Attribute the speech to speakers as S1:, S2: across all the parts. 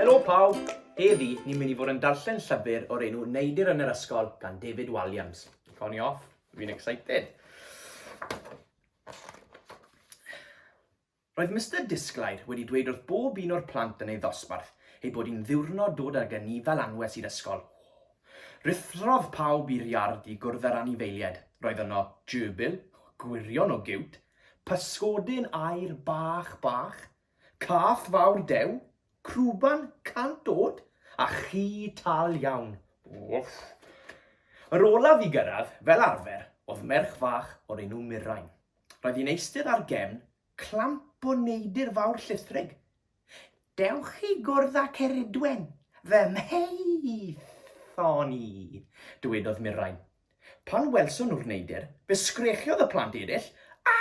S1: Helo pawb! Heddi, ni'n mynd i fod yn darllen llyfr o'r enw Neidir yn yr Ysgol gan David Walliams. Cawn ni off, fi'n excited. Roedd Mister Disglair wedi dweud wrth bob un o'r plant yn ei ddosbarth ei bod hi'n ddiwrnod dod ag y ni fel anwes i'r ysgol. Rhuthrodd pawb i'r iard i gwrdd â'r anifeiliaid. Roedd yno gerbil, gwirion o giwt, pysgodyn aur bach bach, cath fawr dew, crwban cant o'd, a chi tal iawn. Wff! Yr olaf i gyrraedd, fel arfer, oedd merch fach o'r enw Mirain. Roedd hi'n eistedd ar gefn clamp o neidr fawr llithrig. Dewch i gwrdd â Ceridwen, fy mheithon i, dywedodd Mirain. Pan welson nhw'r neidr, fe sgrechiodd y plant eraill, A!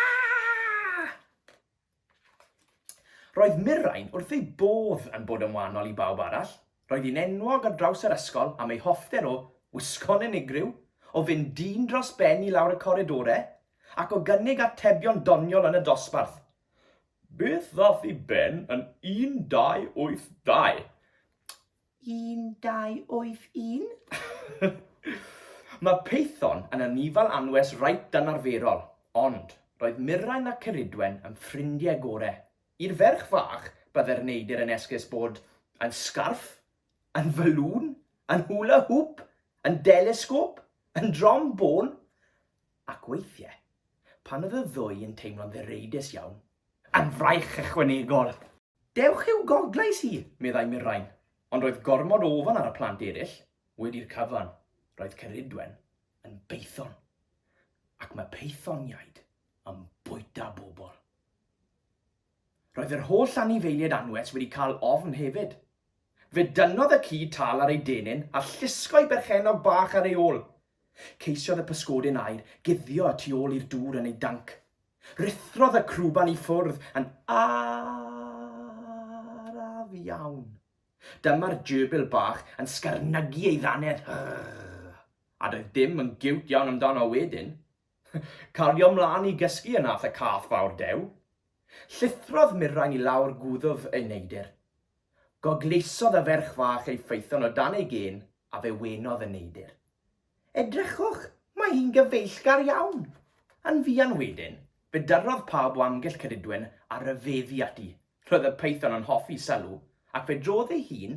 S1: Roedd Mirain wrth ei bodd yn bod yn wahanol i bawb arall, roedd hi'n enwog ar draws yr ysgol am ei hoffter o wisgo'n unigryw, o fynd dyn dros ben i lawr y coridorau, ac o gynnig atebion doniol yn y dosbarth. Beth ddaeth i ben yn 1982? 1281. Mae Peithon yn anifail anwes reit anarferol, ond roedd Mirain a Ceridwen yn ffrindiau gore. I'r ferch fach, byddai'r neidr yn esgus bod yn sgarff, yn faloon, yn hula hoop, yn delesgôp, yn drom bôn, ac weithiau, pan oedd y ddwy yn teimlo'n ddireidus iawn, yn fraich ychwanegol! Dewch i'w goglais hi, meddai Mirain, ond roedd gormod o ofn ar y plant eraill. Wedi'r cyfan, roedd Ceridwen yn beithon, ac mae peithoniaid yn bwyta bobl. Roedd yr holl anifeiliaid anwes wedi cael ofn hefyd. Fe dynnodd y ci tal ar ei denyn a llusgo'i berchennog bach ar ei ôl, Ceisiodd y pysgodyn aer guddio y tu ôl i'r dŵr yn ei danc. Ruthrodd y crwban i ffwrdd yn araf iawn. Dyma'r gerbil bach yn sgarnygu ei ddannedd. A doedd dim yn giwt iawn amdano wedyn. Cario mlaen i gysgu ynath y cath fawr dew. Llithrodd Mirain i lawr gwddf ei neidr. Goglesodd y ferch fach ei phaethon o dan ei gên a fe wenodd y neidr. Edrychwch, mae hi'n gyfeillgar iawn! Yn fuan wedyn, fe dyrrodd pawb o amgylch Cadudwen a rhyfeddu ati. Roedd y paethon yn hoffi sylw, ac fe drodd ei hun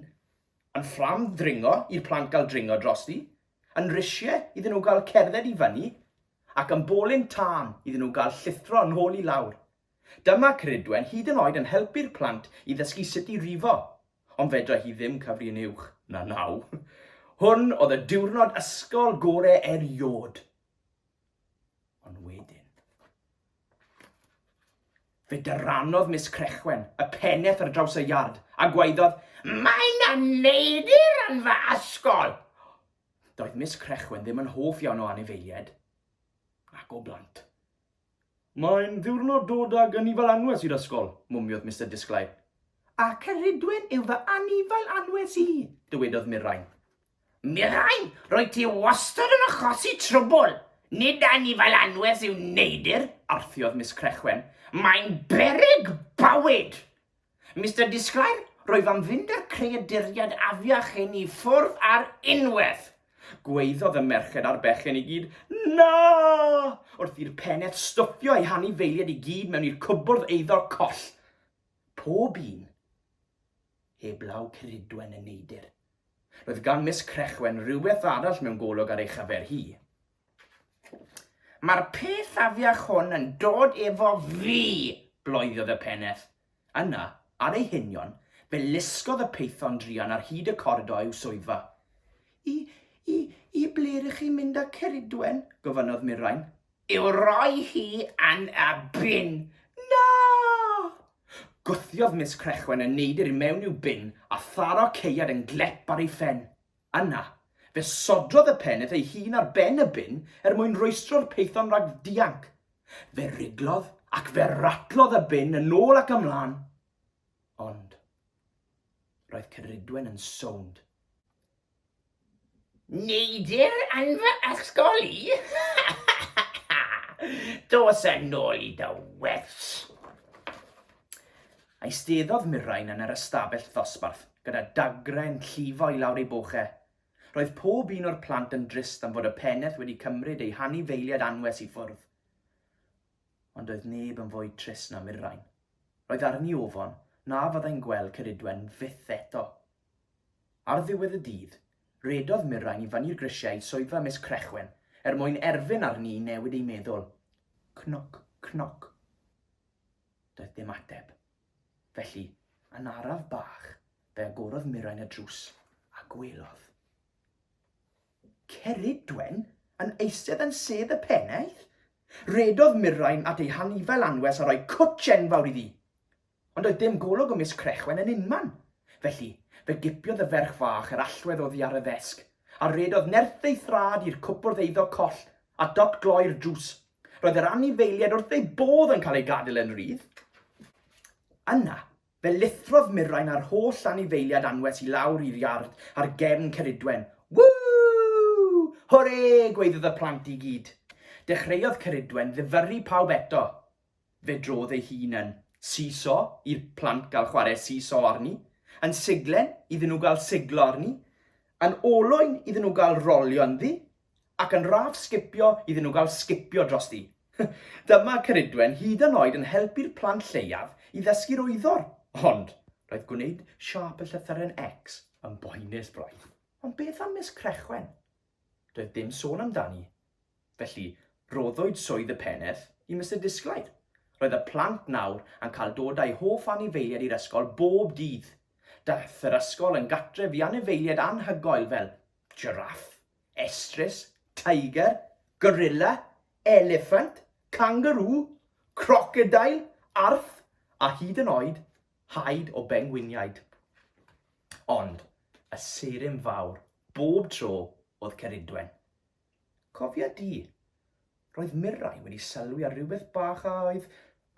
S1: yn ffrâm ddringo i'r plant gael dringo drosti, yn risiau iddyn nhw gael cerdded i fyny, ac yn bolyn tân iddyn nhw gael llithro yn ôl i lawr. Dyma Ceridwen hyd yn oed yn helpu'r plant i ddysgu sut i rifo, ond fedrai hi ddim cyfri'n uwch na naw. Hwn oedd y diwrnod ysgol gore eriod. Ond wedyn. Fe dyranodd Miss Crechwen y peneth ar draws y iard a gwaeddodd, Mae na neidr yn fy ysgol! Doedd Miss Crechwen ddim yn hoff iawn o anifeiliaid, nac o blant. Mae'n ddiwrnod dod ag anifail anwes i'r ysgol, mwmiodd Mister Disglair. A Ceridwen yw fy anifail anwes i, dywedodd Mirain. Mirain, roedd ti wastad yn achosi trwbl! Nid anifail anwes yw Neidyr, arthiodd Miss Crechwen. Mae'n beryg bywyd! Mister Disglair, rwyf am fynd â'r creaduriaid afiach hyn i ffwrdd ar unwaith! Gwaeddodd y merched a'r bechgyn i gyd, Na! wrth i'r peneth stwffio eu hanifeiliaid i gyd mewn i'r cwbwrdd eiddo coll. Pob un heblaw Ceridwen y neidr. Roedd gan Miss Crechwen rywbeth arall mewn golwg ar ei chyfer hi. Mae'r peth afiach hwn yn dod efo fi! bloeddodd y peneth. Yna, ar ei hunion, fe lusgodd y peithon druan ar hyd y coridor i'w swyddfa. I, i, i ble rŷch chi'n mynd â Ceridwen? gofynnodd Mirain. I'w roi hi yn y bin! Na! Gwthiodd Miss Crechwen y neidr i mewn i'w bin a tharo caead yn glep ar ei phen. Yna, fe sodrodd y peneth ei hun ar ben y bin er mwyn rwystro'r peithon rhag dianc. Fe riglodd ac fe ratlodd y bin yn ôl ac ymlaen. Ond, roedd Ceridwen yn sownd. Neidr yn fy ysgol i! Dos yn ôl i dy wers! Eisteddodd Mirain yn yr ystafell ddosbarth gyda dagre'n llifo i lawr ei boch e. Roedd pob un o'r plant yn drist am fod y pennaeth wedi cymryd eu hanifeiliaid anwes i ffwrdd. Ond doedd neb yn fwy trist na Mirain. Roedd arni ofon na fyddai'n gweld Ceridwen fyth eto. Ar ddiwedd y dydd, redodd Mirain i fyny'r grisiau i swyddfa Miss Crechwen er mwyn erfyn arni i newid ei meddwl. Cnoc, cnoc. Doedd dim ateb. Felly, yn araf bach, fe agorodd Mirain y drws a gwelodd. Ceridwen yn eistedd yn sedd y pennaeth? Redodd Mirain at ei hanifail anwes a rhoi cwtsh enfawr iddi. Ond oedd dim golwg o Miss Crechwen yn unman. Felly, fe gipiodd y ferch fach yr allwedd oddi ar y ddesg, a redodd nerth ei thraed i'r cwpwrdd eiddo coll a dot gloi'r drws Roedd yr anifeiliaid wrth eu bodd yn cael eu gadael yn rydd. Yna, fe lithrodd Mirain a'r holl anifeiliaid anwes i lawr i'r iard ar gefn Ceridwen. Ww! Hwre! gwaeddodd y plant i gyd. Dechreuodd Ceridwen ddifyrru pawb eto. Fe drodd ei hun yn seesaw i'r plant gael chwarae seesaw arni, yn siglen iddyn nhw gael siglo arni, yn olwyn iddyn nhw gael rolio ynddi, Ac yn raf sgipio iddyn nhw gael sgipio drosti. Dyma Ceridwen hyd yn oed yn helpu'r plant lleiaf i ddysgu'r wyddor, ond roedd gwneud siâp y llythyren X yn boenus braidd. Ond beth am Miss Crechwen? Doedd dim sôn amdani. Felly, rhoddwyd swydd y peneth i Mister Disglair. Roedd y plant nawr yn cael dod â'u hoff anifeiliaid i'r ysgol bob dydd. Daeth yr ysgol yn gartref i anifeiliaid anhygoel fel jiraff, Estrys, teiger, gorilla, eliffant, cangarŵ, crocodeil, arth a hyd yn oed haid o bengwiniaid. Ond y seiryn fawr bob tro oedd Ceridwen. Cofia di, roedd Mirai wedi sylwi ar rhywbeth bach a oedd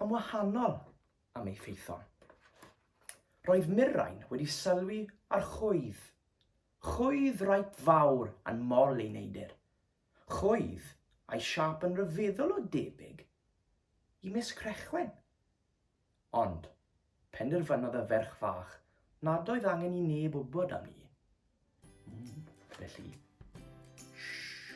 S1: yn wahanol am ei ffeithon. Roedd Mirai'n wedi sylwi ar chwydd Chwydd reit fawr yn mol ei neidr. Chwydd a'i siâp yn ryfeddol o debyg i Miss Crechwen. Ond, penderfynodd y ferch fach nad oedd angen i neb wybod am ni. Felly, shh!